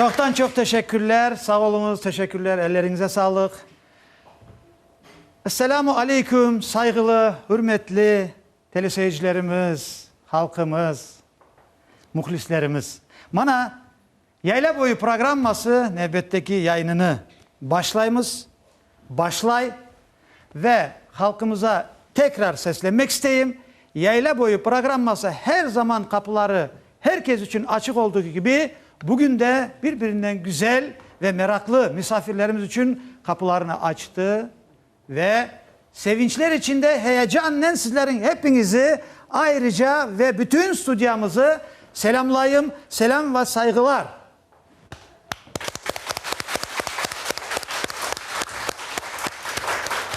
Çoqtan çoq teşekkürler, sağ oluñız, teşekkürler, elleriñize sağlıq. Esselamu Aleyküm, sayğılı, hürmetli. Teleseyircilerimiz, halqımız, muhlislerimiz, mana, Yayla boyu programması nevbetteki yayınını başlaymız, başlay, ve halqımıza tekrar seslenmek isteyim, Yayla boyu programması her zaman qapıları her kes içün açıq olduğu kibi, bugün de bir-birinden güzel ve meraqlı misafirlerimiz içün qapılarını açtı, Ve sevinçler içinde heyecannen sizleriñ hepiñizi ayrıca ve bütün studiyamızı selâmlayım, selâm ve sayğılar.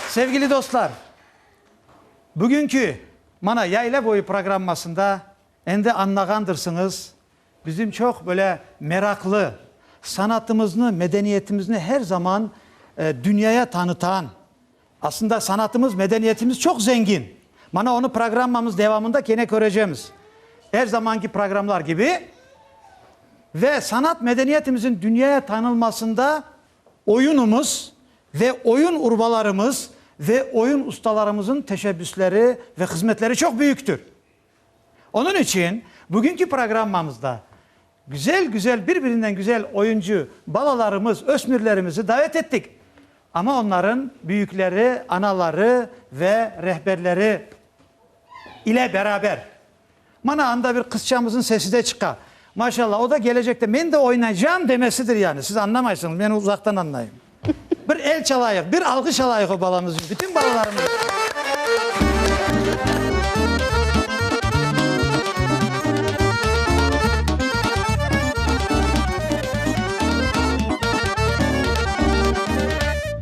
Sevgili dostlar, bugünkü, mana, Yayla boyu programmasında endi añlağandırsıñız, Bizim çoq böyle meraqlı, sanatımıznı, medeniyetimizni her zaman dünyaya tanıtan, aslında sanatımız, medeniyetimiz çoq zengin. Mana onı programmamız devamında kene körecemiz. Er zamanki programlar kibi. Ve sanat, medeniyetimizin dünyaya tanılmasında oyunımız ve oyun urbalarımız ve oyun ustalarımızın teşebbüsleri ve hızmetleri çoq büyüktür. Onıñ içün bugünki programmamızda güzel-güzel, bir-birinden güzel oyuncı balalarımız, ösmürlerimizi davet ettik. Amma onların büyükleri, anaları ve rehberleri ile beraber. Mana, anda bir qızçamızın sesi de çıqa. Maşallah, o da gelecekte, men de oynaycam demesidir yani. Siz añlamaysıñız, men uzaqtan añlayım. Bir el çalayıq, bir alğış alayıq o balamız içün, bütün balalarımız içün.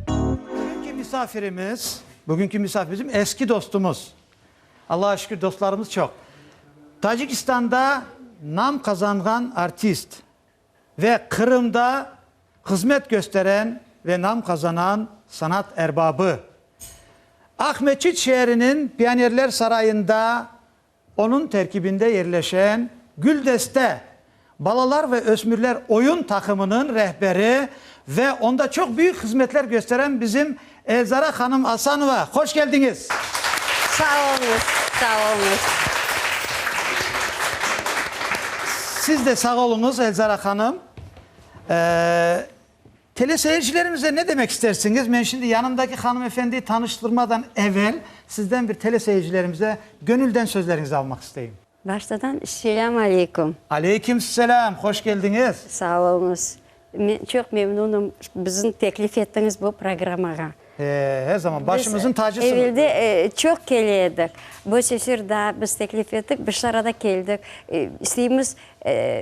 Bugünki misafirimiz, bugünki misafir bizim eski dostumuz. Allağa şükür, dostlarımız çoq. Tacikistanda nam qazanğan artist. ve Qırımda hızmet kösteren ve nam qazanan sanat erbabı. Aqmescit şeeriniñ Pionerler sarayında onıñ terkibinde yerleşen Güldeste balalar ve ösmürler oyun taqımınıñ rehberi ve onda çoq büyük hızmetler kösteren bizim Elzara hanım Asanova, hoş keldiñiz! Sağ olunız, sağ olunız. Siz de sağ oluñız, Elzara hanım. Eee, teleseyircilerimize ne demek istersiñiz? Men şimdi yanımdaki hanımefendiyi tanıştırmadan evel, sizden bir teleseyircilerimize gönülden sözleriñizi almaq isteyim. Baştadan Selam Aleyküm. Aleyküm Selam, hoş keldiñiz. Sağ olunız. Men çoq memnunım bizni teklif ettiñiz bu programmağa. Her zaman başımızın tacısınız. Biz evelde çoq kele edik. Bu sefer daa biz teklif ettik, bir şarada keldik. İsteymiz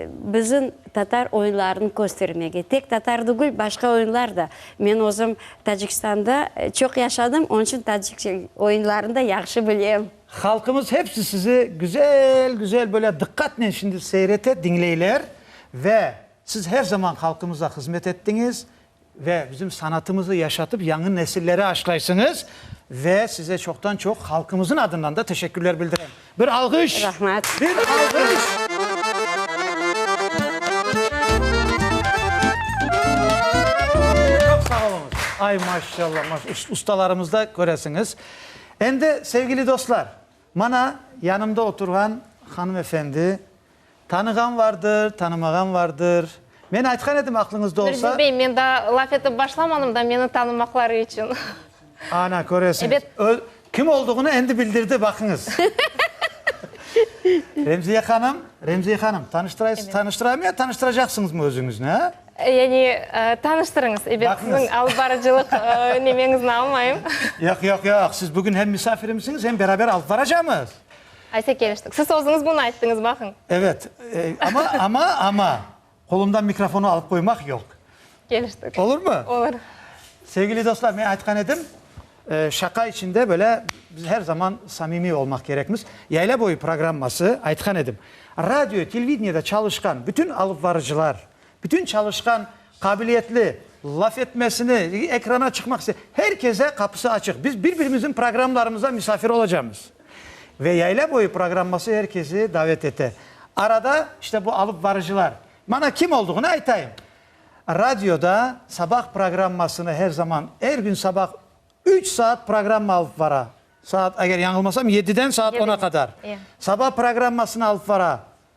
bizim tatar oyunlarını köstermege. Tek tatar degil, başqa oyunlar da. Men özüm Tacikistanda çoq yaşadım, onun içün tacik oyunlarını da yahşı bilem. Halqımız hepsi sizi güzel-güzel böyle diqqatnen şimdi seyrete, diñleyler ve siz her zaman halqımıza hızmet ettiñiz ve bizim sanatımızı yaşatıp yañı nesilleri aşlaysıñız ve size çoqtan-çoq halqımızın adından da teşekkürler bildirem. Bir alğış! Rahmet! Bir alğış! Çoq sağ oluñız! Ay maşşallah, maş, ustalarımızda köresiñiz. Endi, sevgili dostlar, mana, yanımda oturğan hanımefendi, tanığan vardır, tanımağan vardır. Men aytqan edim, aqlıñızda olsa. Mürzin bey, men daa laf etip başlamanım da, meni tanımaqları içün. Ana, köresiñiz, öz kim olduğını endi bildirdi, baqıñız. Remziye hanım, Remziye hanım, tanıştıraysız, tanıştıramı ya tanıştıracaqsıñızmı özüñizni, a? Yani, tanıştırıñız, ebe siziñ alıp barıcılıq nemeñizni almayım. Yoq, yoq, yoq, siz bugün hem misafirimsiñiz, hem beraber alıp baracamız. Ayse keliştik. Siz özüñiz bunı ayttıñız, baqıñ. Evet, amma, amma, amma, qolumdan mikrofonı alıp qoymaq yoq. Keliştik. Olurmı? Olur. Sevgili dostlar, men aytqan edim, şaqa içinde böyle biz her zaman samimiy olmaq kerekmiz. Yayla boyu programması, aytqan edim, radio, televideniede çalışqan bütün alıpbarıcılar, Bütün çalışqan, qabiliyetli, laf etmesini, ekrana çıqmaq iste, her kese qapısı açıq. Biz bir-birimizniñ programmalarımızda misafir olacağımız. Ve Yayla boyu programması her kesi davet ete. Arada işte bu alıp barıcılar. Mana kim olduğını aytayım. Radioda sabah programmasını her zaman, er gün sabah üç saat programma alıp bara. Saat, eger yañılmasam, yediden saat ona qadar. Sabah programmasını alıp bara.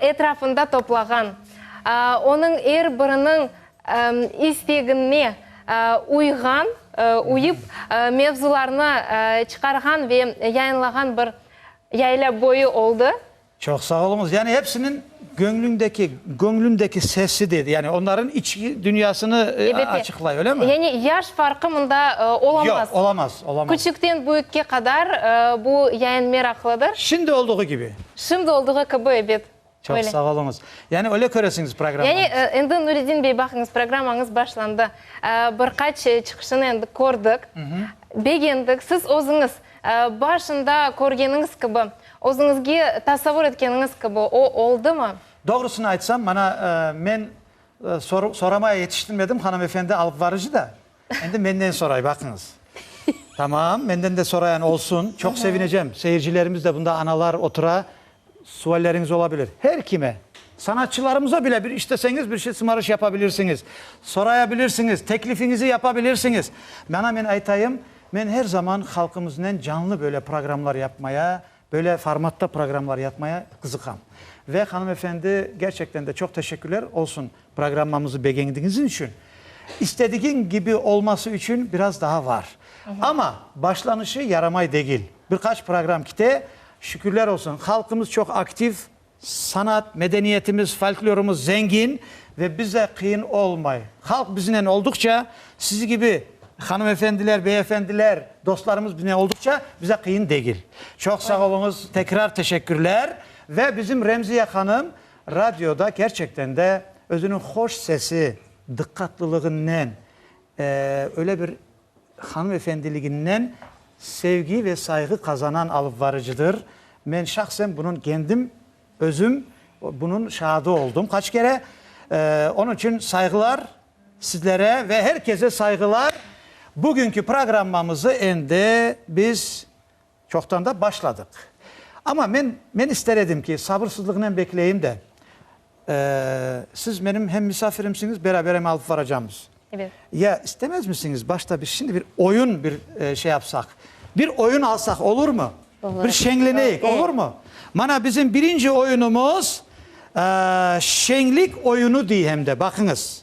etrafında toplağan, onıñ er biriniñ istegine uyğan, uyıp, mevzularnı çıqarğan ve yayınlağan bir yayla boyu oldı. Çoq sağ oluñız. Yani hepsiniñ göñlündeki, göñlündeki sesi dedi, yani onların içki dünyasını açıqlay, öyle mi? Yani yaş farqı mında olamaz. Yoq, olamaz, olamaz. Küçükten büyükke qadar bu yayın meraqlıdır. Şimdi olduğu kibi. Şimdi olduğu kibi, ebet. Çoq Öyle. sağ oluñız. Yani öyle köresiñiz programmamızı? Yani, e, endi Nuredin bey, baqıñız, programmañız başlandı. E, bir qaç e, çıqışını endi kördik, begendik. Siz özüñiz, e, başında körgeniñiz kibi, özüñizge tasavur etkeniñiz kibi o oldumı? Doğrusını aytsam, mana, e, men, e, sor, soramaya yetiştirmedim, hanımefendi alıpvarıcı da. Endi menden soray, baqıñız. Tamam, menden de sorayan olsun, çoq sevinecem. Seyircilerimiz de, bunda analar otura, sualleriñiz ola bilir. Her kime, sanatçılarımıza bile bir isteseñiz bir şey sımarış yapa bilirsiñiz, soraya bilirsiñiz, teklifiñizi yapa bilirsiñiz. Mana men aytayım, men her zaman halqımıznen canlı böyle programlar yapmaya Böyle formatta programmalar yapmaya qızıqam. Ve hanım efendi, gerçekten de çoq teşekkürler olsun programmamızı begendiğiniz içün. İstedigiñ kibi olması içün biraz daha var. Ama başlanışı yaramay degil. Bir qaç program kite, şükürler olsun, halqımız çoq aktiv, Sanat, medeniyetimiz, folklorımız zengin ve bize qıyın olmay. Halq biznen olduqça, siz kibi hanımefendiler, beyefendiler, dostlarımız biznen olduqça bize qıyın degil. Çoq sağ oluñız, tekrar teşekkürler. Ve bizim Remziye hanım radioda kerçekten de özüniñ hoş sesi, dıqqatlılığınnen, öyle bir Hanımefendiliginden sevgi ve sayğı qazanan alıpvarıcıdır. Men şahsen bunıñ kendim, özüm bunıñ şaadı oldım qaç kere. Onıñ içün sayğılar sizlere ve her kese sayğılar. Bugünki programmamızı endi biz Çoqtan da başladıq. Amma men, men ister edim ki, sabırsızlıqnen bekleyim de, eee, siz menim hem misafirimsiñiz, beraber em alıp varacamız. Evet. Ya istemezmisiñiz, başta biz şimdi bir oyun bir şey yapsaq, bir oyun alsaq olurmı? Olur. Bir şeñleneyik, olurmı? Mana bizim birinci oyunumuz, eee, şeñlik oyunu dey hem de, baqıñız.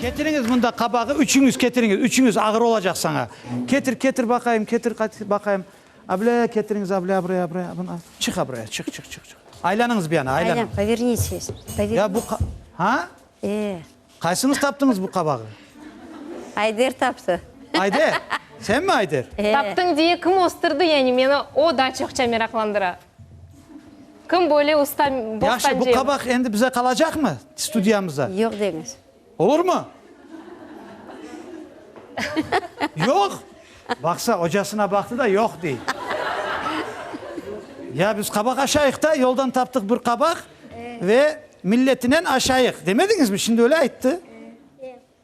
Ketiriñiz mında qabağı, üçüñiz ketiriñiz, üçüñiz, ağır olacaq saña. Ketir, ketir baqayım, ketir baqayım. Ablâ, ketiriñiz, ablâ, abraya, abraya, buna. Çıx abraya, çıx, çıx, çıx, çıx. Aylanıñız bir yana, aylanıñ. Aylan, povernitsiz, povernitsiz. Ya bu qa... Ha? E. Qaysıñız taptıñız bu qabağı? Ayder taptı. Ayder? Sen mi Ayder? E. Taptıñ diye kim östürdi, yani meni o da çoqça meraqlandıra. Kim böyle usta bostancı? Yahşı, bu qabaq endi bize qalacaqmı, studiyamızda? Yoq deñiz. Olurmı? Yoq? Baqsa, ocasına baqtı da, yoq dey. Ya biz qabaq aşayıq da, yoldan taptıq bir qabaq ve milletinen aşayıq, demediñizmi? Şimdi öyle ayttı.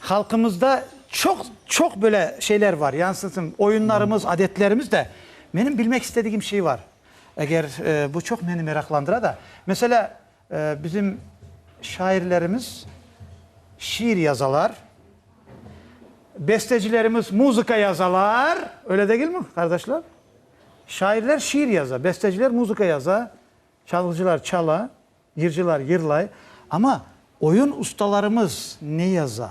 Halqımızda çoq, çoq böyle şeyler var, yansıtım, oyunlarımız, adetlerimiz de. Menim bilmek istedigim şey var, eger bu çoq meni meraqlandıra da. Meselâ, bizim şairlerimiz şiir yazalar, bestecilerimiz muzıka yazalar, öyle degilmi, qardaşlar? Şairler şiir yaza, besteciler muzıka yaza, çalğıcılar çala. Yırcılar yırlay, amma oyun ustalarımız ne yaza?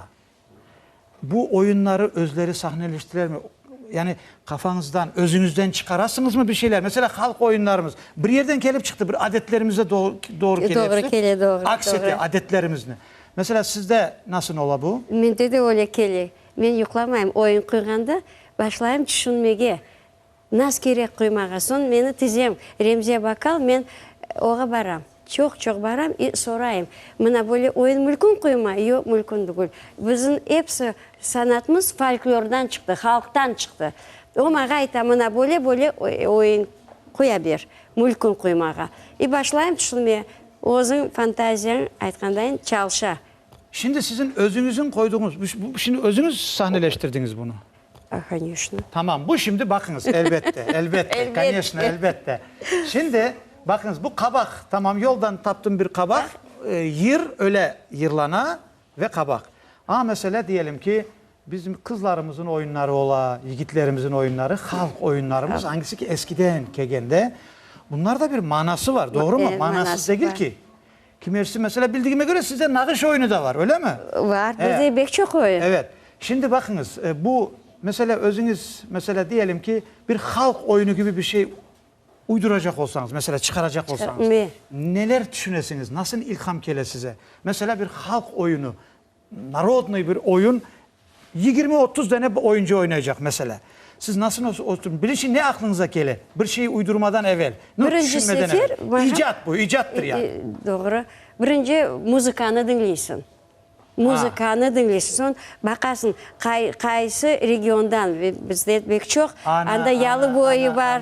Bu oyunları özleri sahneleştirermi? Yani qafañızdan, özüñizden çıqarasıñızmı bir şeyler? Mesela halq oyunlarımız bir yerden kelip çıqtı, bir adetlerimize doğru kele hepsi, aks ete adetlerimizni. Mesela sizde nasıl ola bu? Mende de öyle kele. Men yuqlamayım, oyun quyğanda başlayım tüşünmege. Naz kerek quymağa. Soñ meni tizem, Remziye baqal, men oğa baram. Çoq-çoq baram i sorayım, Mına böyle oyun mülkün quyma? Yoq, mülkün degil. Bizim episi sanatımız folklordan çıqtı, halqtan çıqtı. O mağa ayta, Mına böyle, böyle oyun quya ber, mülkün quymağa. I başlayım tüşünmeye. Özüñ fantaziyañ aytqandayın çalışa. Şimdi siziñ özüñizin qoyduğıñız, şimdi özüñiz sahneleştirdiñiz bunı. A, koneşno. Tamam, bu şimdi baqıñız, elbette, elbette, koneşno, elbette. Şimdi, baqıñız, bu qabaq, tamam, yoldan taptım bir qabaq, yır, öyle yırlana ve qabaq. Aña meselâ, diyelim ki, bizim qızlarımızın oyunları ola, yigitlerimizin oyunları, halq oyunlarımız, angisi ki, eskiden kelgende, bunlarda bir manası var, doğrumu? Manasız degil ki. Kimersi, mesela, bildigime köre, sizde nağış oyunı da bar, öylemi? Bar, bizde bek çoq oyun. Evet. Şimdi baqıñız, bu, mesela, özüñiz, mesela, diyelim ki, bir halq oyunı kibi bir şey uyduracaq olsañız, mesela, çıqaracaq olsañız, neler tüşünesiñiz, nasıl ilham kele size? Mesela, bir halq oyunı, Narodnıy bir oyun, yigirmi, otuz dene oyuncı oynaycaq, meselâ. Siz nasıl oturıp, birinci ne aqlınıza kele, bir şey uydurmadan evel, no, tüşünmeden evel? İcat bu, icattır yani. Doğru. Birinci muzıkanı diñleysiñ. Muzıkanı diñleysiñ, soñ baqasıñ, qay, qaysı regiondan, ve bizde et bek çoq, anda Yalıboyı bar,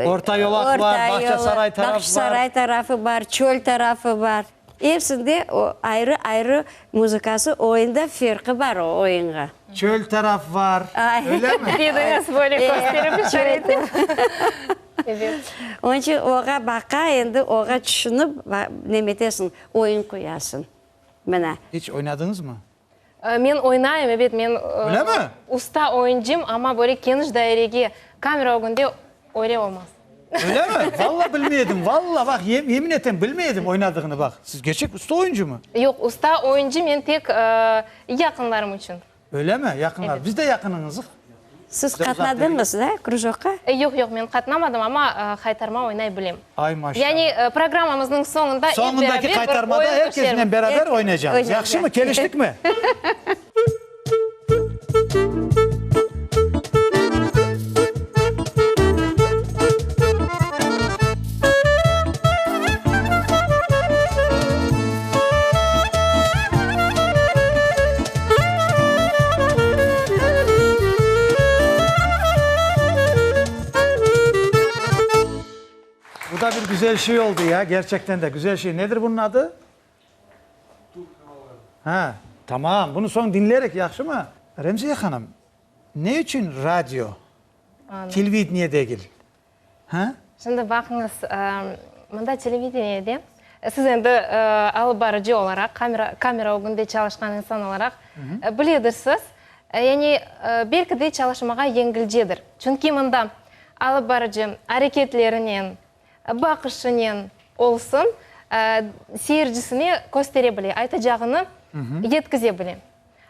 Orta Yolaq bar, Bağçasaray tarafı bar, Bağçasaray tarafı bar, Çöl tarafı bar. Ersinde o ayrı-ayrı muzıkası oyunda ferqi bar o oyunğa. Çöl taraf var, öylemi? Didiñiz böyle kösterip işare ettiñiz. Evet. Onıñ içün oğa baqa endi oğa tüşünip neme etesiñ oyun qoyasıñ. Mına. İç oynadıñızmı? Men oynayım, ebet, men usta oyuncım, amma böyle keniş dairege, kamera ögünde öyle olmaz. Öyle mi? Valla bilmey edim, valla, baq, yemin etem, bilmey edim oynadığını, baq. Siz gerçek usta oyuncı mı? Yoq, usta oyuncı men tek yaqınlarım içün. Öyle mi? Yaqınlar. Biz de yaqınıñızıq. Siz qatnadıñız da krujokqa? Yoq, yoq, men qatnamadım, amma haytarma oynay bilem. Ay, maşallah. Yani, programmamıznıñ soñunda ep beraber bir oyun kösterem. Beraber oynaycağız. Yahşımı, keliştikmi? Bu da bir güzel şey oldu ya, gerçekten de güzel şey. Nedir bunun adı? Türk havaları. Ha, tamam. Bunu soñ dinlerik, yahşı mı? Remziye hanım, ne içün radyo, televideniye degil? Ha? Şimdi baqıñız, mında televideniyede siz endi alıp barıcı olaraq, kamera, kamera ögünde çalışqan insan olaraq biledirsiz. Yani, belki de çalışmağa yengilcedir. Çünki mında alıp barıcı areketlerinen, baqışınen olsun, seyircisine köstere bile, aytacağını yetkize bile.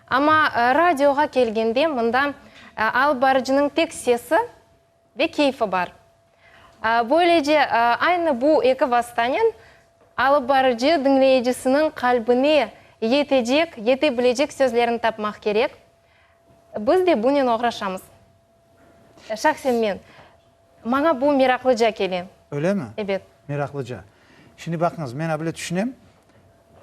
Amma radioğa kelgende, mında alıp barıcınıñ tek sesi, Ve keyfi bar. Böylece, aynı bu eki vastanen alıp barıcı diñleyicisiniñ qalbine yetecek, yete bilecek sözlerini tapmaq kerek. Biz de bunen oğraşamız. Şahsen men. Maña bu meraqlıca kele. Öylemi? Ebet. Meraqlıca. Şimdi baqıñız, men abile tüşünem.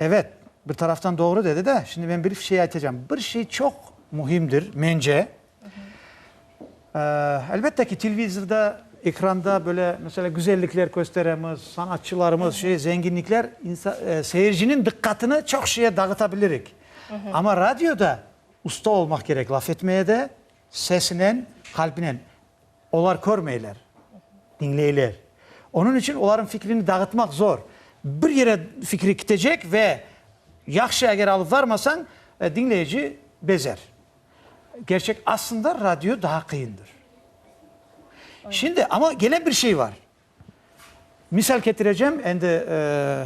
Ebet, bir taraftan doğru dedi de, şimdi men bir şey aytacağım. Bir şey çoq mühimdir, mence, Elbette ki, televizorda, ekranda böyle, mesela, güzellikler kösteremiz, sanatçılarımız, şey, zenginlikler, seyirciniñ diqqatını çoq şeye dağıtabilirik. Amma radioda usta olmaq kerek laf etmeye de, sesinen, qalbinen. Olar körmeyler, diñleyler. Onıñ içün olarnıñ fikrini dağıtmaq zor. Bir yere fikri kitecek ve yahşı eger alıp varmasañ, diñleyici bezer. Kerçek, aslında radio daa qıyındır. Şimdi, amma gene bir şey bar. Misal ketirecem, endi,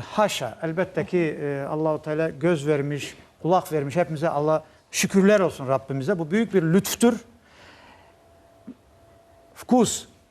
haşa, elbette ki, Allahu Teala göz vermiş, qulaq vermiş, hepimize Alla şükürler olsun Rabbimize, bu büyük bir lütftür. Vkus.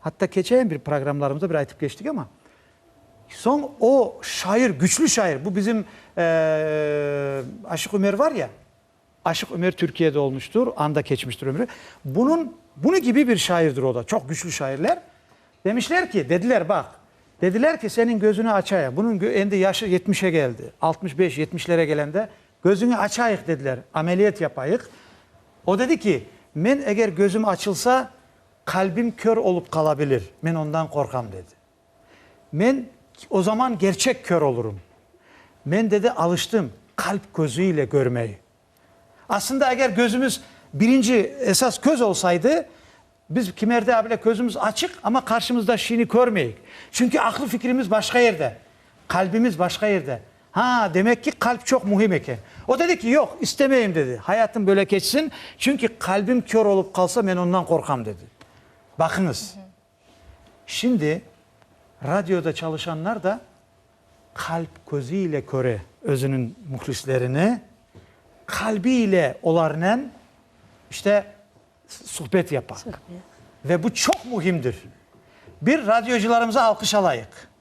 Hatta keçeyen bir programlarımızda bir aytıp keçtik ama, soñ o şair, güçlü şair, bu bizim Aşıq Ümer var ya, Aşıq Ümer Türkiyede olmuştur, anda keçmiştir ömrü, bunun, bunı kibi bir şairdir o da, çoq güçlü şairler. Demişler ki, dediler, baq, dediler ki, senin gözüni açayıq, bunun endi yaşı yetmişe geldi, altmış beş, yetmişlere gelende, gözüni açayıq dediler, ameliyat yapayıq. O dedi ki, men eger gözüm açılsa, Qalbim kör olıp qala bilir, men ondan qorqam, dedi. Men, o zaman kerçek kör olurım. Men, dedi, alıştım qalp közü ile körmey. Aslında, eger közümiz birinci, esas köz olsaydı, biz kimerde abile közümiz açıq, amma qarşımızdakşini körmeyik. Çünki aqlı fikrimiz başqa yerde, qalbimiz başqa yerde. Ha, demek ki, qalp çoq mühim eken. O dedi ki, yoq, istemeyim, dedi. Hayatım böyle keçsin, çünki qalbim kör olıp qalsa, men ondan qorqam, dedi. Baqıñız, şimdi radioda çalışanlar da qalp közü ile köre özüniñ mühlislerini, qalbi ile olarnen, işte, suhbet yapa. Ve bu çoq mühimdir. Bir, radiocılarımıza alqış alayıq.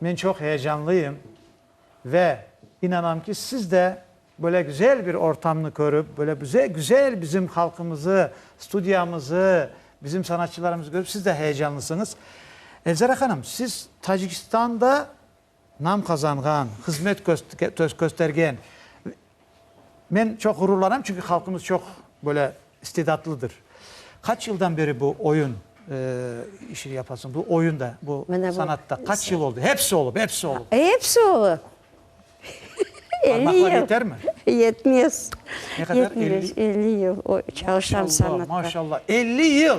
Men çoq heyecanlıyım ve inanam ki, siz de böyle güzel bir ortamnı körüp, böyle bize güzel bizim halqımızı, studiyamızı, bizim sanatçılarımızı körüp, siz de heyecanlısıñız. Elzara hanım, siz Tacikistanda nam qazanğan, hızmet köstergen, Men çoq ğururlanam, çünki halqımız çoq böyle istidatlıdır. Qaç yıldan beri bu oyun işini yapasıñ, bu oyunda, bu sanatta? Qaç yıl oldı? Hepsi olıp, hepsi olıp. Hepsi olıp. Parmaqlar yeter mi? Yetmez. Ne qadar? Yetmez, elli yıl çalışam sanatta. Maşallah, maşallah, elli yıl!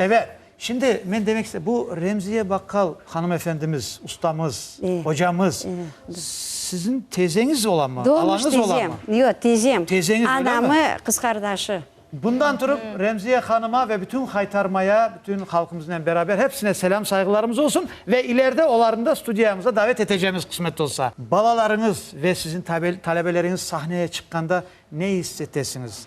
Ebet, şimdi men demek istem, bu Remziye baqqal hanımefendimiz, ustamız, ocamız, siziñ tezeñiz ola mı, alañız ola mı? Yoq, tezem. Tezeñiz, öyle mi? Anamı qız qardaşı. Bundan turıp, Remziye hanıma ve bütün Haytarmaya, bütün halqımıznen beraber hepsine selâm, sayğılarımız olsun ve ileride olarnı da studiyamıza davet etecemiz, qısmet olsa. Balalarıñız ve siziñ talebeleriñiz sahneye çıqqanda ne is etesiñiz?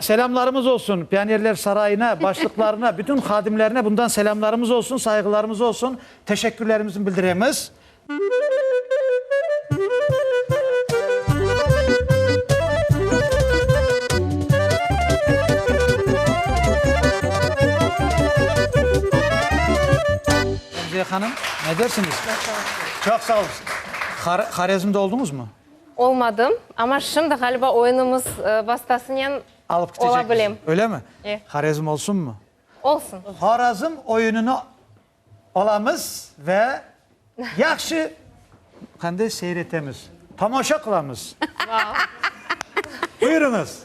Selâmlarımız olsun Pionerler sarayına, başlıqlarına, bütün hadimlerine bundan selâmlarımız olsun, sayğılarımız olsun, teşekkürlerimizni bildiremiz. Remziye hanım, ne dersiniz? Çoq sağ olun. Horezmde oldunuzmı? Olmadım, amma şimdi ğaliba oyunımız vastasınen Alıp ola kitecekmiz, bilem. öyle mi? E. Horezm olsunmı? Olsun. Horezm oyunını alamız ve yahşı qanday seyretemiz, tomaşa qılamız. Vau. Buyurıñız.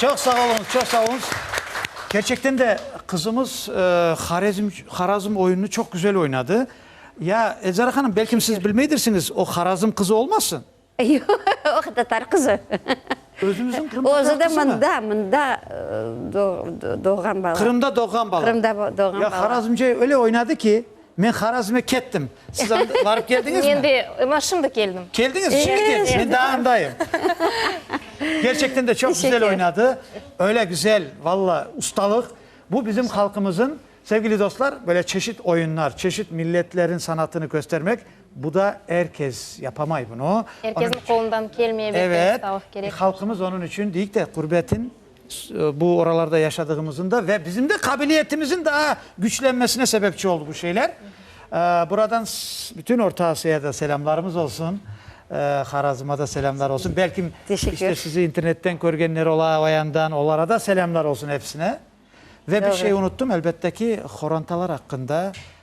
Çoq sağ oluñız, çoq sağ oluñız. Kerçekten de, qızımız Horezm, Horazm oyunını çoq güzel oynadı. Ya, Elzara hanım, belkim siz bilmeydirsiñiz, o Horazm qızı olmasın? Yoq, tatar qızı. Özüñizniñ Qırım tatar qızımı? Özü de mında, mında doğğan bala. Qırımda doğğan bala. Qırımda doğğan bala. Ya, Horazmce öyle oynadı ki. Men Harazme kettim. Siz anda barıp keldiñizmi? Men de ına şimdi keldim. Keldiñiz? Şimdi keldiñiz. Men daa andayım. Kerçekten de çoq güzel oynadı. Öyle güzel, valla, ustalıq. Bu bizim halqımızın, sevgili dostlar, böyle çeşit oyunlar, çeşit milletlerin sanatını köstermek, bu da er kes yapamay bunı. Er kesin qolundan kelmey, evet, ustalıq kerek. Halqımız onıñ içün, deyik de, qurbetin Bu oralarda yaşadığımızın da ve bizim de qabiliyetimizin daa güçlenmesine sebepçi oldı bu şeyler. Buradan bütün Orta Asıya da selâmlarımız olsun. Harazıma da selâmlar olsun. Belki işte sizi internetten körgenler ola, o yandan, olara da selâmlar olsun hepsine. Ve bir şey unuttım, elbette ki, horontalar aqqında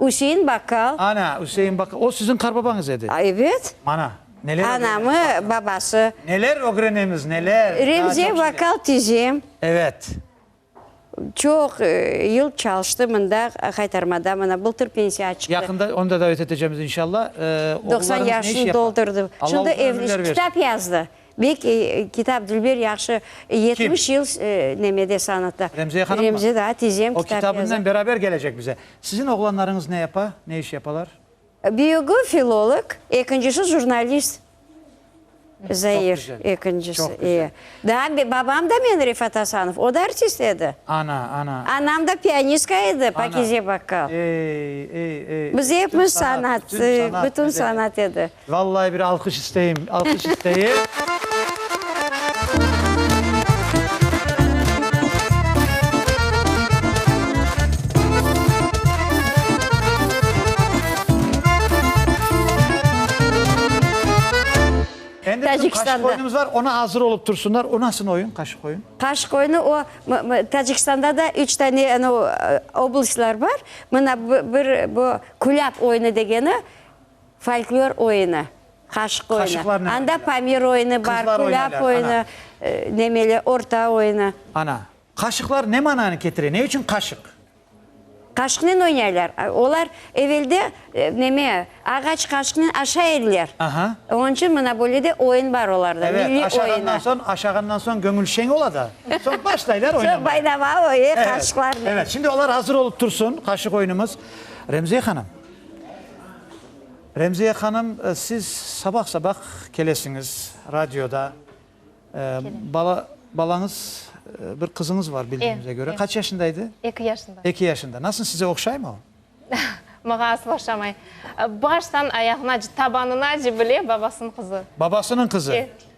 Üsein bakkal. Ana, Üsein bakkal. O siziñ qarbabañız edi? Evet. Mana, neler ögrenemiz bakkal. Anamı, babası. Neler ögrenemiz, neler. Remziye bakkal tizem. Evet. Çoq yıl çalıştı mında, Haytarmada, mına bıltır pensiya çıqtı. Yaqında onı da davet etecemiz inşalla. Oğullarıñız ne iş yapa? Doqsan yaşını doldurdı. Şimdi ev, kitap yazdı. Bek kitap Dülber yahşı yetmiş yıl nemede sanatta. Remziye hanım mı? Remzi daa tizem kitap yaza. O kitabınen beraber gelecek bize. Sizin oğlanlarıñız ne yapa, ne iş yapalar? Büyügi filolog, ekincisi jurnalist. Zair ekincisi, iye. Daa babam da men Refat Asanov, o da artist edi. Ana, ana. Anam da pianistka edi, Pakize Bakkal. Ey, ey, ey. Biz epimiz sanat, bütün sanat edi. Vallahi bir alqış isteyim, alqış isteyim. Endi bizim qaşıq oyunumız bar, ona azır olıp tursunlar. O nasıl oyun, qaşıq oyun? Qaşıq oyunu o, Tacikistanda da üç tane anav oblastlar bar. Mına bir bu, külâp oyunu degeni. Folklor oyunı, qaşıq oyunı. Anda pamir oyunı bar, kulâp oyunı, nemeli, orta oyunı. Ana, qaşıqlar ne mananı ketire, ne içün qaşıq? Qaşıqnen oynaylar. Olar evelde, neme, ağaç qaşıqnen aşa ediler. Onıñ içün mına böyle de oyun bar olarda, milliy oyunı. Evet, aşağandan soñ, aşağandan soñ göñül şeñ ola da, soñ başlaylar oynamağa. Soñ baynamağa, oy, qaşıqlarnen. Evet, şimdi olar azır olıp tursın, qaşıq oyunımız. Remziye hanım, Remziye hanım, siz sabah-sabah kelesiñiz radioda. Bala, balañız, bir qızıñız var, bildiğimize köre. Qaç yaşında edi? Eki yaşında. Eki yaşında. Nasıl, size oqşaymı o? Maña aslı oqşamay. Baştan ayağına, tabanına cibile, babasınıñ qızı. Babasınıñ qızı?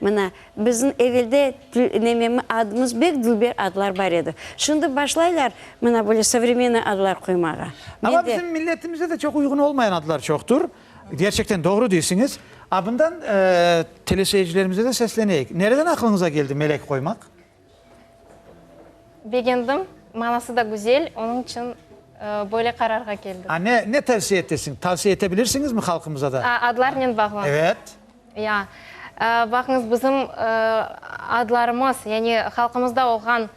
Mına, bizim evelde nememi adımız bek dülber adlar bar edi. Şimdi başlaylar, mına, böyle sovremennoy adlar qoymağa. Amma bizim milletimizde de çoq uyğun olmayan adlar çoqtur. Kerçekten doğru deysiñiz. A, bundan teleseyircilerimize de sesleneyik. Nereden aqlıñıza keldi Melek qoymaq? Begendim, manası da güzel, onıñ içün böyle qararğa keldim. A, ne, ne tavsiye etesiñ? Tavsiye ete bilirsiñizmi halqımıza da? A, adlarnen bağlı? Evet. Ya, baqıñız, bizim adlarımız, yani halqımızda olğan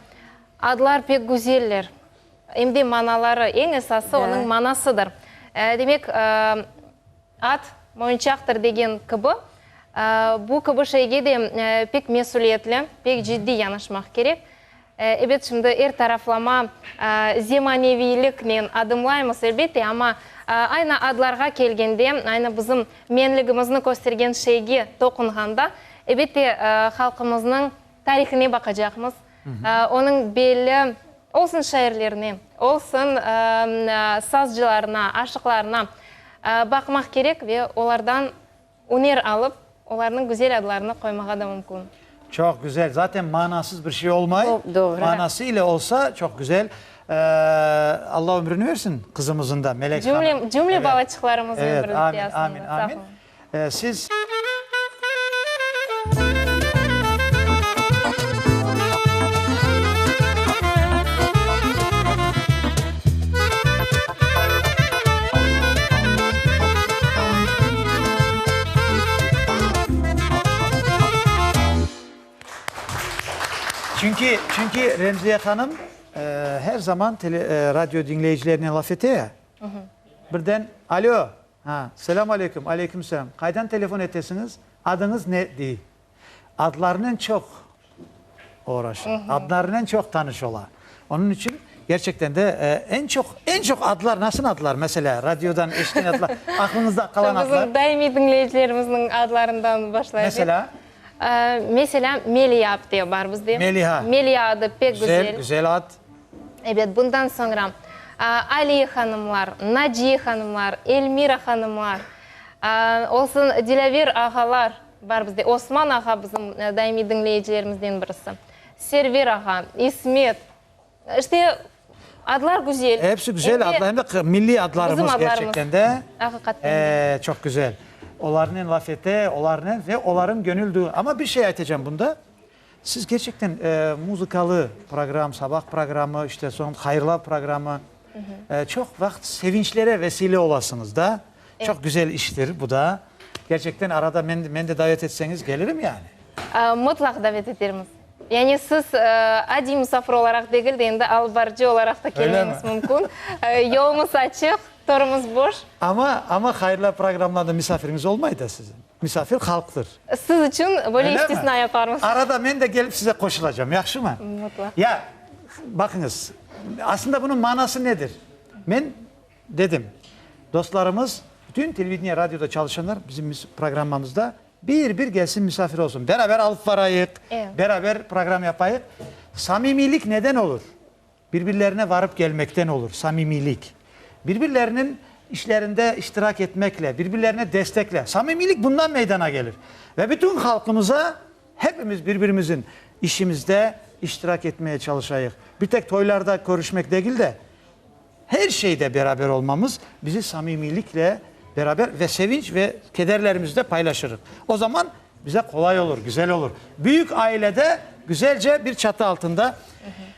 adlar pek güzeller, em de manaları, eñ esası onıñ manasıdır. Demek, At, moyunçaqtır degen kibi, bu kibi şeyge de pek mesüliyetli, pek ciddiy yanaşmaq kerek. Ebet, şimdi er taraflama zemaneviyliknen adımlaymız, elbette, amma aynı adlarğa kelgende, aynı bizim menligimizni köstergen şeyge toqunğanda, ebette, halqımıznıñ tarihine baqacaqmız, Onıñ belli olsun şairlerine, olsun sazcılarına, aşıqlarına baqmaq kerek ve olardan üner alıp, olarnıñ güzel adlarını qoymağa da mümkün. Çoq güzel. Zaten manasız bir şey olmay. Manası ile olsa çoq güzel. Alla ömrüni bersin qızımızın da, Melek hanım. Cümle balaçıqlarımızın ömrüni bersin. Amin, amin, amin. Siz. Çünki, çünki Remziye hanım her zaman tele, radio diñleyicilerine laf ete ya, birden, Alo! Ha, selâm aleyküm, aleyküm selâm. Qaydan telefon etesiñiz? Adıñız ne? dey. Adlarınen çoq oğraşa, adlarınen çoq tanış ola. Onıñ içün, kerçekten de, eñ çoq, eñ çoq adlar, nasıl adlar? Meselâ, radiodan eşitken adlar, aqlıñızda qalan adlar? Bizim daimiy diñleyicilerimizniñ adlarından başlayıp. Meselâ? Meselâ, Meliâ, dep bar bizde. Meliâ. Meliâ adı pek güzel. Güzel, güzel ad. Ebet, bundan soñra Aliye hanımlar, Naciye hanımlar, Elmira hanımlar, olsun Dilâver ağalar bar bizde. Osman ağa bizim daimiy diñleyicilerimizden birisi. Server ağa, İsmet, işte adlar güzel. Hepsi güzel adlar, hem de milliy adlarımız gerçekten de. Bizim adlarımız, aqiqaten de. Çoq güzel. Olarnen laf ete, olarnen ve olarıñ gönül duyu. Amma bir şey aytacağım bunda. Siz kerçekten muzıkalı program, sabah programı, işte soñ hayırlav programı, çoq vaqıt sevinçlere vesile olasıñız da, çoq güzel iştir bu da. Kerçekten arada meni de davet etseñiz gelirim yani. Mutlaq davet etermiz. Yani siz adiy musafir olaraq degil de, endi alıp barıcı olaraq da kelmeñiz mümkün. Yolumız açıq, torumız boş. Amma hayırlav programlarında musafiriñiz olmay da sizin? Misafir halqtır. Siz içün böyle istisna yaparmız. Arada men de kelip size qoşulacam, yahşımı? Mutlaq. Ya, baqıñız, aslında bunıñ manası nedir? Men dedim, dostlarımız, bütün televideniye, radioda çalışanlar bizim programmamızda bir-bir kelsin, misafir olsun. Beraber alıp barayıq, beraber program yapayıq. Samimiylik neden olur? Birbirlerine varıp kelmekten olur, samimiylik. Birbirleriniñ işlerinde iştirak etmekle, birbirlerine destekle. Samimiylik bundan meydana gelir. Ve bütün halqımıza hepimiz birbirimizin işimizde iştirak etmeye çalışayıq. Bir tek toylarda körüşmek degil de, her şeyde beraber olmamız bizi samimiylikle beraber ve sevinç ve kederlerimizi de paylaşırıq. O zaman bize qolay olur, güzel olur. Büyük ailede güzelce bir çatı altında.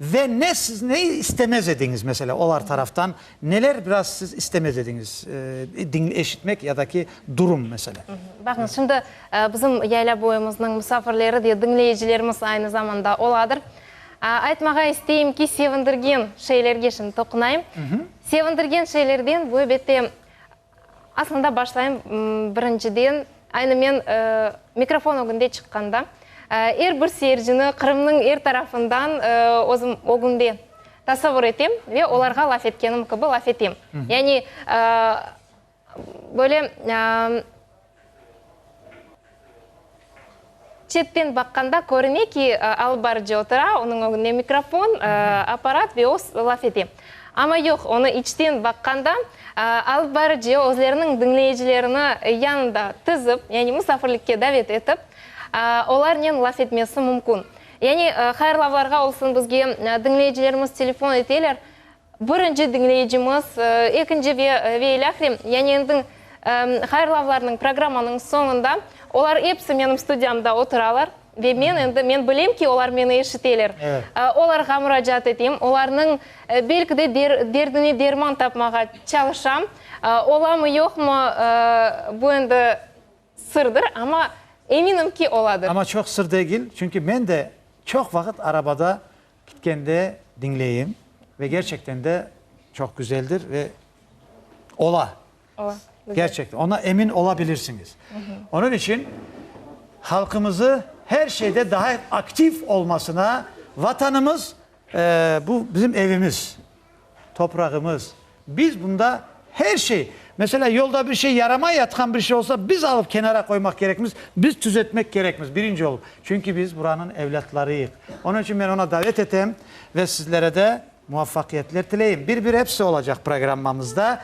Ve ne siz ne istemez ediñiz, mesela, olar taraftan neler biraz siz istemez ediñiz diñ eşitmek ya da ki durum, mesela? Baqıñız, şimdi bizim Yaylaboyumıznıñ musafirleri de, diñleyicilerimiz aynı zamanda oladır. Aytmağa isteyim ki, sevindirgen şeylerge şimdi toqunayım. Sevindirgen şeylerden, bu, elbette, Aslında başlayım birinciden, aynı men mikrofon ögünde çıqqanda, er bir seyircini Qırımnıñ er tarafından özüm ögünde tasavur etem ve olarğa laf etkenim kibi laf etem. Yani böyle Çetten baqqanda körüne ki, alıp barıcı otura, onıñ ögünde mikrofon, apparat ve o laf ete. Amma yoq, onı içten baqqanda, alıp barıcı özleriniñ diñleyicilerini yanında tizip, yani musafirlikke davet etip, olarnen laf etmesi mümkün. Yani hayırlavlarğa olsun, bizge diñleyicilerimiz telefon eteler, Birinci diñleyicimiz, ekinci ve ve ilâhre, yani endi hayırlavlarnıñ, programmanıñ soñunda olar episi menim studiyamda oturalar ve men endi, men bilem ki, olar meni eşiteler. Olarğa muracaat etem, olarnıñ belki de derdine derman tapmağa çalışam. Olamı, yoqmı, bu endi sırdır, amma eminim ki, oladır. Amma çoq sır degil, çünki men de çoq vaqıt arabada Kitkende diñleyim ve gerçekten de çoq güzeldir ve ola. Ola. Gerçekten. Ona emin olabilirsiñiz. Onıñ içün halqımızı her şeyde daha aktiv olmasına, Vatanımız, bu bizim evimiz, toprağımız, Biz bunda her şey, meselâ, yolda bir şey yaramay yatqan bir şey olsa, biz alıp kenara qoymaq kerekmiz, biz tüzetmek kerekmiz, birinci olıp. Çünki biz buranıñ evlâtlarıyıq. Onıñ içün men oña davet etem ve sizlere de muvaffaqiyetler tileyim. Bir-bir episi olacaq programmamızda.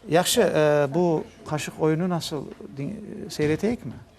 Yahşı, bu qaşıq oyunı nasıl, seyreteyikmi?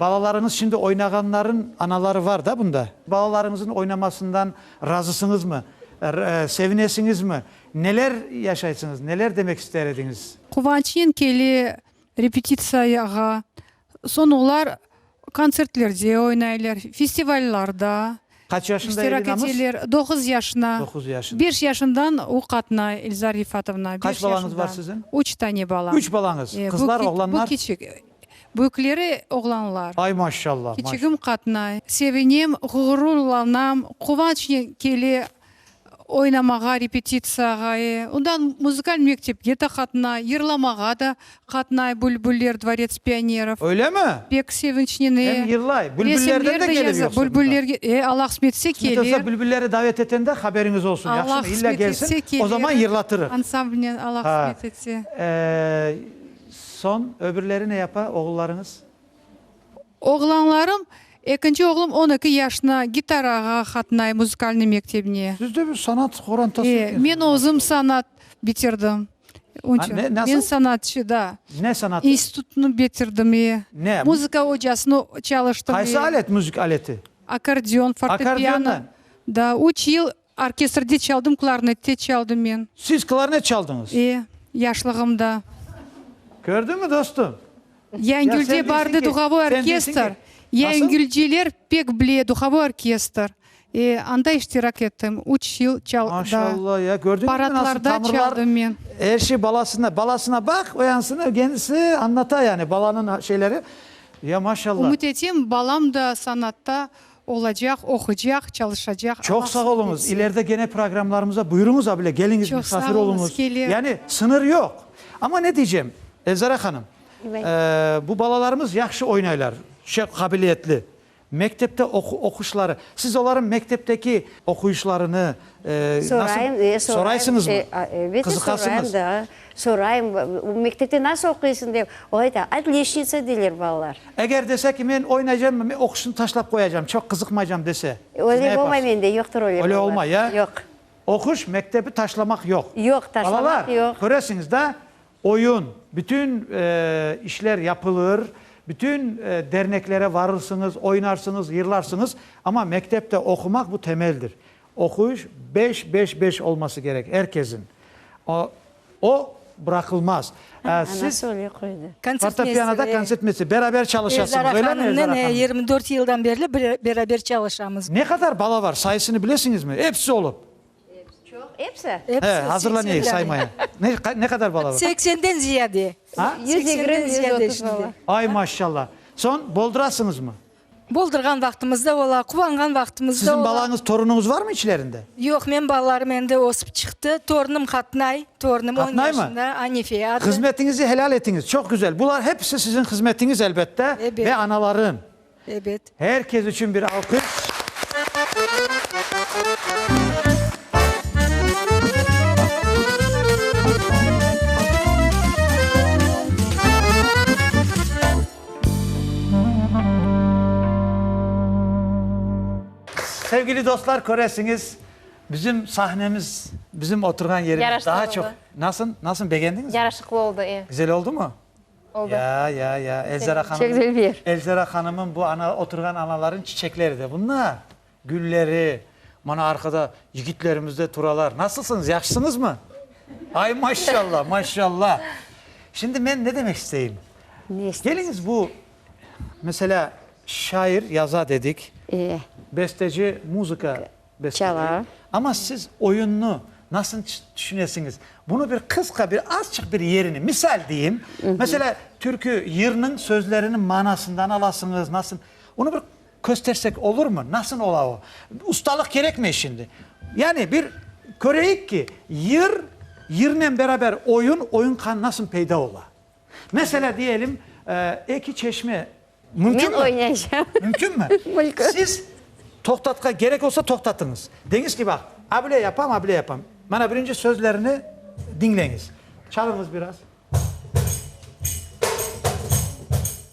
Balalarıñız şimdi oynağanların anaları var da bunda? Balalarıñızın oynamasından razısıñızmı? Sevinesiñizmi? Neler yaşaysıñız? Neler demek ister ediñiz? Quvançnen kele repetitsiyağa. Soñ olar kontsertlerde oynaylar, festivallarda iştirak eteler. Doquz yaşına. Doquz yaşına. Beş yaşından o qatnay, Elza Rifatovna. Qaç balañız var siziñ? Üç tane balam. Üç balañız. Qızlar, oğlanlar? Bu kiçik. Büyükleri oğlanlar. Ay maşşalla! Kiçigim qatnay. Sevinem, ğururlanam. Quvançnen kele oynamağa, repetitsiyağae. Ondan muzıkal mektepke de qatnay, yırlamağa da qatnay Bülbüller, dvorets pionerov. Öylemi? Pek sevinçnen, e. Em yırlay. Bülbüllerden de kelip yoqsa bunda? Bülbüllerge, e, Allah qısmet etse, kelir. Qısmet olsa Bülbülleri davet etende haberiñiz olsun, yahşımı? İlla kelsin, o zaman yırlatırıq. Ansamblnen, Allah qısmet etse. Ha. Ee. Soñ öbürleri ne yapa, oğullarıñız? Oğlanlarım, ekinci oğlum on eki yaşına, gitarağa qatnay, muzikalnıy mektebine. Siz de bir sanat qorantası Ee, ekensiniz. men özüm sanat bitirdim. Onıñ içün. Ne, nasıl? Men sanatçı, da. Ne sanatı? İnstitutnı bitirdim, ee. Ne? Muzıka ocasını çalıştım, ee. Qaysı alet, müzik aleti? Akkordeon, fortepiano. Akkordeondan? Da, üç yıl Orkestrde çaldım, klarnette çaldım men. Siz klarnet çaldıñız? E, yaşlığımda. Kördiñmi, dostum? Yaingülde bardı duhovoy orkestr, yaingülceler pek bile duhovoy orkestr. E, anda iştirak ettim, üç yıl çal, da. Maşallah ya, kördiñizmi, nasıl tamırlar? Paradlarda çaldım men. Er şey balasına, balasına baq, oyansın, kendisi añlata yani, balanıñ şeyleri. Ya, maşallah. Ümüt etem, balam da sanatta Olacaq, oquycaq, çalışacaq. Çoq sağ oluñız, ileride gene programlarımıza buyuruñız abile, keliñiz, misafir oluñız. Yani sıñır yoq. Amma ne diycem, Elzara hanım, bu balalarımız yahşı oynaylar, şey, qabiliyetli. Mektepte oquşları, siz olarnıñ mektepteki oquyışlarını, Sorayım, e, sorayım, e, a, elbette sorayım da, sorayım, bu mektepte nasıl oquysıñ dep, o ayta, otliçnitsa deyler balalar. Eger dese ki, men oynaycam, men oquşnı taşlap qoyacam, çoq qızıqmaycam dese, siz ne yaparsıñ? Öyle olmay mende, yoqtur öyle balalar. Öyle olmay, ya? Yoq. Oquş, mektebi taşlamaq yoq. Yoq, taşlamaq yoq. Balalar, köresiñiz da, Oyun, bütün işler yapılır, bütün derneklere varırsıñız, oynarsıñız, yırlarsıñız, amma mektepte oqumaq bu temeldir. Oquyış beş, beş, beş olması kerek, er kesin. O bıraqılmaz. Siz fortepianoda konsertmeyster, beraber çalışasıñız, öyle mi, Eldar hanım? Yirmi dört yıldan berli beraber çalışamız. Ne qadar bala var, sayısını bilesiñizmi? Episi olıp. Epsi? He, azırlanayıq saymaya. Ne qadar bala bar? Seksenden ziyade. A? Yüz yigirmi, yüz otuz bala. Ay, maşşalla. Soñ boldurasıñızmı? Boldurğan vaqtımız da ola, quvanğan vaqtımız da ola. Siziñ balañız, torunuñız barmı içlerinde? Yoq, menim balalarım endi ösip çıqtı. Torunum qatnay, torunum on yaşında, Anife adı. Hızmetiñizi helâl etiñiz, çoq güzel. Bular hepsi siziñ hızmetiñiz, elbette, ve anaların. Ebet. Her kes içün bir alqış. Sevgili dostlar, köresiñiz, bizim sahnemiz, bizim oturğan yerimiz daha çoq. Yaraşıqlı oldı. Nasıl, nasıl, begendiñizmi? Yaraşıqlı oldı, e. Güzel oldumu? oldı. Ya, ya, ya, Elzara hanımnıñ. Çek cel ber. Elzara hanımnıñ bu ana, oturğan analarınıñ çiçekleri de bunlar, gülleri. Mana arqada yigitlerimiz de turalar. Nasılsıñız, yahşısıñızmı? Ay, maşşalla, maşşalla. Şimdi men ne demek isteyim? Ne isteysiz? Keliñiz bu, meselâ, şair yaza dedik. E. Besteci muzıka. Çala. Amma siz oyunnı nasıl tüşünesiñiz? Bunı bir qısqa, bir azçıq bir yerini, misal deyim, meselâ, türkü yırnıñ sözleriniñ manasından alasıñız, nasıl? Onı bir köstersek olurmı? Nasıl ola o? Ustalıq kerekmey şimdi. Yani bir köreyik ki, yır, yırnen beraber oyun, oyun nasıl peyda ola? Meselâ, diyelim, eki çeşme mümkün mi? Men oynayacağım. Mümkün mi? Mümkün. Siz toqtatqa, gerek olsa toqtatıñız. Deñiz ki, baq, a bile yapam, a bile yapam. Mana birinci sözlerini diñleñiz. Çalıñız biraz.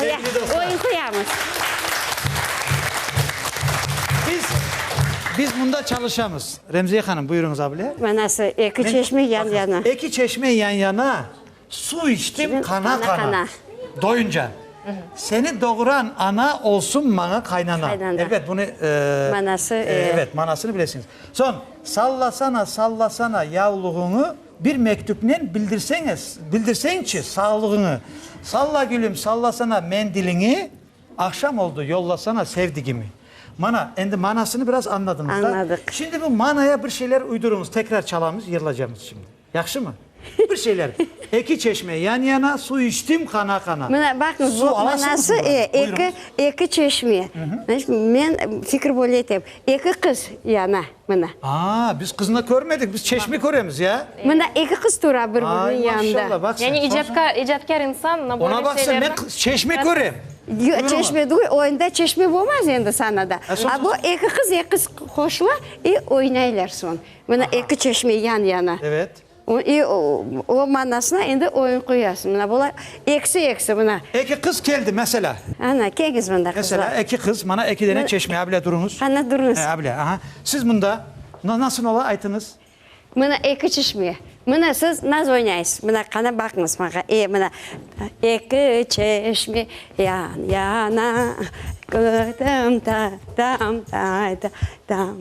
Sevgili dostlar, biz, biz mında çalışamız. Remziye hanım, buyurunız abile. Manası, eki çeşme yan-yana. Eki çeşme yan-yana, suv içtim qana-qana, doyunca. Seni doğuran ana olsun maña qaynana. Qaynana. Elbet bunı, eee, Manası, eee. evet, manasını bilesiñiz. Soñ, sallasana, sallasana yavluğuñı. Bir mektüpnen bildirseñiz, bildirseñçi sağlığıñı. Salla, gülüm, sallasana mendiliñi, Aqşam oldu, yollasana sevdigimi. Mana, endi manasını biraz añladıñız da. Añladıq. Şimdi bu manaya bir şeyler uyduruñız, tekrar çalamız, yırlacamız şimdi. Yahşımı? Bir şeyler. Eki çeşme yan-yana, suv içtim qana-qana. Mına, baqıñız, bu manası, e, eki, eki çeşme. Men fikir böyle etem, eki qız yana. Mına. Aa, biz qıznı körmedik, biz çeşme köremiz, ya? Mına eki qız tura bir-biriniñ yanında. Ay, maşallah, baq sen. Yani icadka, icadkâr insan mına böyle şeylerni. Ona baq sen, men qız, çeşme körem. Yoq, çeşme degil, oyunda çeşme bolmaz endi sana da. A bu eki qız, eki qız qoşula, i oynaylar soñ. Mına eki çeşme yan-yana. Evet. İ, o manasına endi oyun qoyasıñ. Mına bulay, eksi, eksi, mına. Eki qız keldi, meselâ. Ana, keñiz mında qızlar. Meselâ, eki qız, mana eki dene çeşme, a bile duruñız. Ana, duruñız. E, a bile, aha. Siz mında, mına nasıl ola, aytıñız. Mına eki çeşme. Mına siz naz oynaysız. Mına, qana, baqıñız maña. E, mına, eki çeşme yan-yana, kördim ta-tam, tay-ta-tam.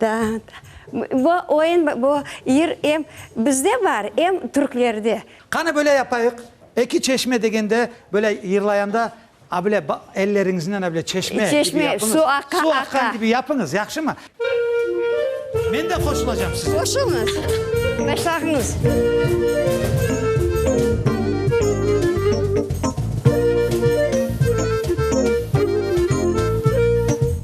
Da, da. Bu oyun, bu yır em bizde bar, em türklerde. Qani böyle yapayıq, Eki çeşme degende, böyle yırlayanda, a bile ba, elleriñiznen a bile çeşme kibi Çeşme, yapıñız. su aqa, aqa. Su aqqan kibi yapıñız, yahşımı? Men de qoşulacam size. Qoşuluñız. Başlağıñız.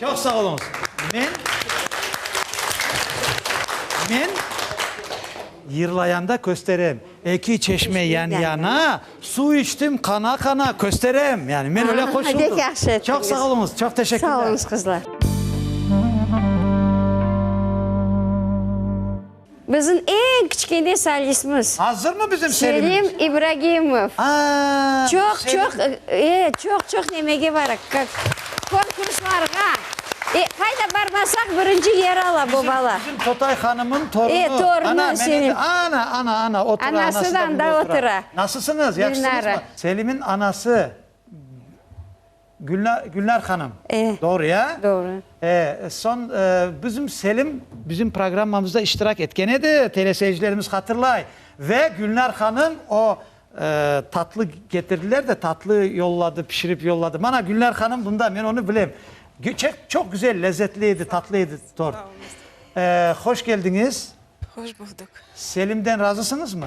Çoq sağ oluñız. Men, men yırlayanda kösterem, eki çeşme yan-yana, suv içtim qana-qana, kösterem, yani men öyle qoşuldım. Pek yahşı ettiniz. Çoq sağ oluñız, çoq teşekkürler. Sağ oluñız, qızlar. Bizim eñ kiçkene solistmiz. Azırmı bizim Selimimiz? Selim İbragimov. Aa, Çoq, Selim. çoq, e, çoq, çoq nemege baraq, kak, konkurslarğa. E, qayda barmasaq birinci yer ala bu bala. Bizim Totay hanımın torunu. E, torunu Selim. Ana, meni de, ana, ana, ana, otura, anası da Anası da anda bunda otura. otura. Nasılsıñız, yahşısıñızmı? Dinara. Selimin anası. Gülnar, Gülnar hanım. E. Doğru ya? Doğru. E, son, e, bizim Selim bizim programmamızda iştirak etken edi, teleseyircilerimiz hatırlay. Ve Gülnar hanım o, e, tatlı getirdiler de, tatlı yolladı, pişirip yolladı. Mana Gülnar hanım bunda, men onu bilem. Çek, çok güzel, lezzetli edi, tatlı edi tort. E, hoş geldiñiz. Hoş bulduk. Selimden razısıñızmı?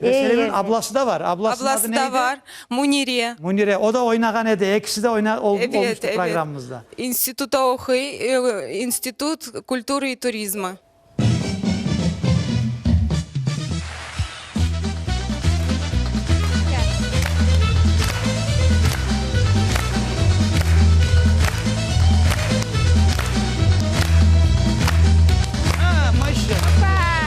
Meseleniñ ablası da var. Ablasınıñ adı ne edi? Ablası da var, Munire. Munire. O da oynağan edi. Ekisi de oyna, ol, Evet, olmuştı evet. programımızda. İnstituta oquy, ıı, İnstitut kulturı i turizma.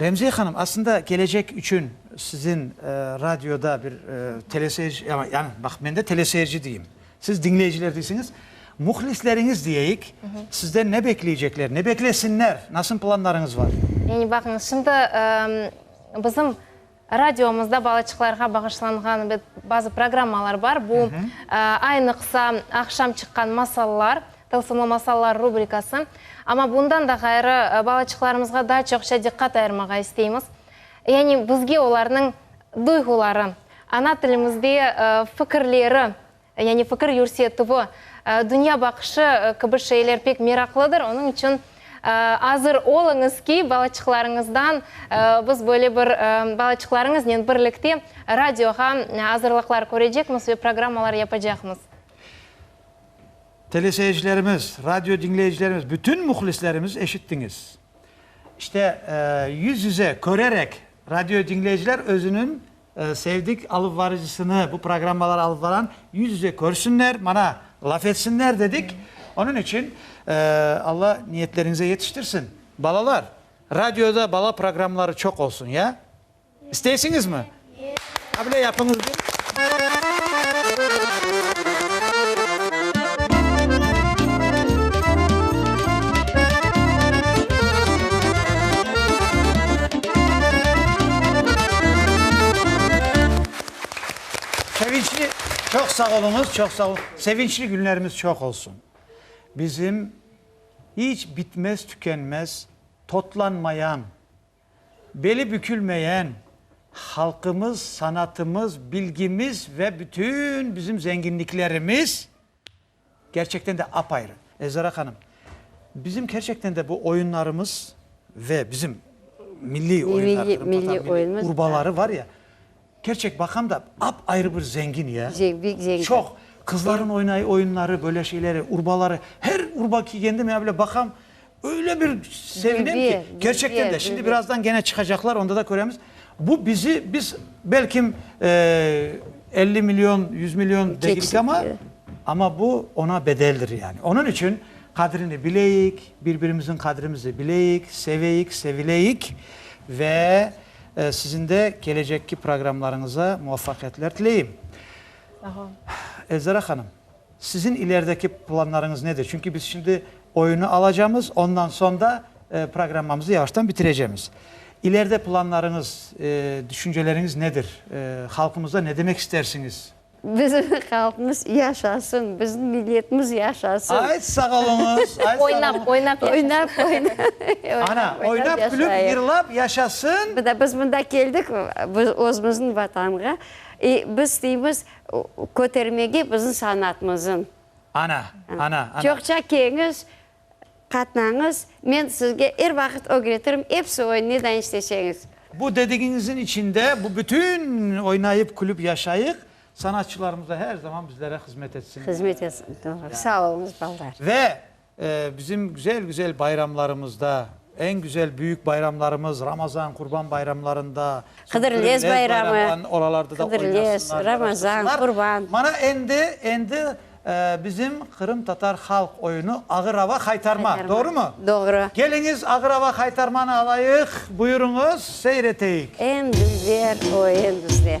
Remziye hanım, aslında kelecek içün siziñ radioda bir teleseyirci, yani baq, men de teleseyirci deyim, Siz diñleyiciler deysiñiz, muhlisleriñiz deyeyik, sizden ne bekleycekler, ne beklesinler, nasıl planlarıñız bar? Yani baqıñız, şimdi bizim radiomızda balaçıqlarğa bağışlanğan bazı programmalar bar, bu aynıqsa aqşam çıqqan Masallar, Tılsımlı masallar rubrikası. Amma bundan da ğayrı, balaçıqlarımızğa daa çoqça diqqat ayırmağa isteymiz, yani bizge olarnıñ duyğuları, Ana tilimizde fikirleri, yani fikir yürsetüvi, dünya baqışı kibi şeyler pek meraqlıdır, onıñ içün azır oluñız ki, balaçıqlarıñızdan biz böyle bir, balaçıqlarıñıznen birlikte radioğa azırlıqlar körecekmiz ve programmalar yapacaqmız. Teleseyircilerimiz, radio diñleyicilerimiz, bütün mühlislerimiz eşittiñiz. İşte, yüz-yüze körerek Radio diñleyiciler özüniñ sevdik alıpvarıcısını, bu programmaları alıp varan yüz yüze körsinler, mana laf etsinler dedik. Onıñ içün Alla niyetleriñize yetiştirsin. Balalar, radioda bala programmaları çoq olsun, ya? İsteysiñizmi? A bile yapıñız bir. Sevinçli, çoq sağ oluñız, çoq sağ oluñ. Sevinçli günlerimiz çoq olsun. Bizim iç bitmez, tükenmez, totlanmayan, beli bükülmeyen halqımız, sanatımız, bilgimiz ve bütün bizim zenginliklerimiz. Kerçekten de apayrı. Elzara hanım, bizim kerçekten de bu oyunlarımız ve bizim milliy oyunlar, Qırım Tatar milliy urbaları var ya, kerçek baqam da apayrı bir zengin ya. Bek zengin. Çoq, qızların oynay oyunları, böyle şeyleri, urbaları, her urba ki, kendim ya böyle baqam, Öyle bir sevinim ki, kerçekten de, şimdi birazdan gene çıqacaqlar, onda da köremiz. Bu bizi, biz belki elli milyon, yüz milyon dedik ama, ama bu ona bedeldir yani. Onıñ içün qadrini bileyik, birbirimizin qadrimizi bileyik, seveyik, sevileyik ve sizin de kelecekki programlarıñıza muvafaqiyetler tileyim. Sağ ol. Elzara hanım. Siziñ ilerideki planlarıñız nedir? Çünki biz şimdi oyunı alacamız, ondan soñ da programmamızı yavaştan bitirecemiz. İleride planlarıñız, düşünceleriñiz nedir? Halqımıza ne demek istersiñiz? Bizim halqımız yaşasın! Bizim milletimiz yaşasın! Ay, sağ oluñız! Oynap, oynap yaşasın! Ana, oynap, külüp, yırlap yaşasın! Biz mında keldik, özümüzniñ Vatanğa. Biz deymiz, Kötermege bizim sanatımızın. Ana, ana, ana. Çoqça keñiz, qatnañız, men sizge er vaqıt ögretirim, epsi oyun, ne dain isteseñiz. Bu dedigiñizin içinde bu bütün oynayıp, külüp yaşayıq, sanatçılarımız da her zaman bizlere hızmet etsinler. Hızmet etsin, doğru. Sağ oluñız, baldar. Ve Bizim güzel-güzel bayramlarımızda, eñ güzel büyük bayramlarımız, Ramazan, Qurban bayramlarında, Qıdırlez bayramı, Qıdırlez, Ramazan, Qurban. Mana endi, endi bizim qırımtatar halq oyunu Ağır-ava Haytarma, doğrumı? Doğru. Keliñiz, Ağır-ava Haytarmanı alayıq, buyurıñız, seyreteyik. Endüzler, o endüzler.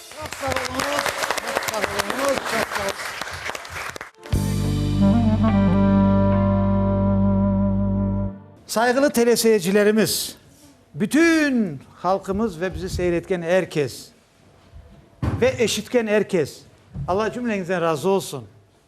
Çoq sağ oluñız, çoq sağ oluñız, çoq sağ Sayğılı teleseyircilerimiz, bütün halqımız ve bizi seyir etken er kes ve eşitken er kes, Alla cümleñizden razı olsun.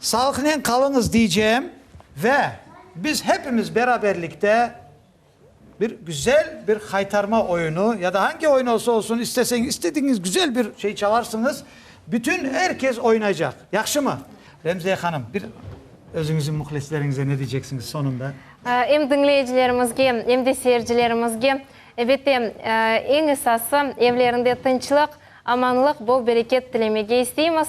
Sağlıqnen qalıñız diycem ve biz hepimiz beraberlikte bir güzel bir haytarma oyunu ya da hangi oyun olsa olsun isteseñ, istediğiñiz güzel bir şey çalarsıñız, bütün er kes oynaycaq. Yahşımı? Remziye hanım, bir özüñizin muhlisleriñize ne diyceksiñiz sonunda? Em diñleyicilerimizge, em de seyircilerimizge, ebette, eñ esası, evlerinde tınçlıq, amanlıq, bol-bereket tilemege isteymiz.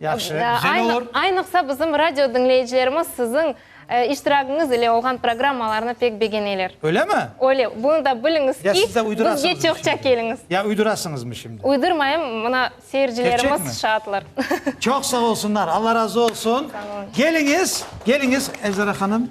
Yahşı, güzel olur. Aynıqsa bizim radio diñleyicilerimiz siziñ iştiragiñiz ile olğan programmalarnı pek begeneler. Öylemi? Öyle. Bunı da biliñiz ki, bizge çoqça keliñiz. Ya uydurasıñızmı şimdi? Uydurmayım, mına seyircilerimiz şaatlar. Çoq sağ olsunlar, Alla razı olsun. Sağ olun. Keliñiz, keliñiz, Elzara hanım.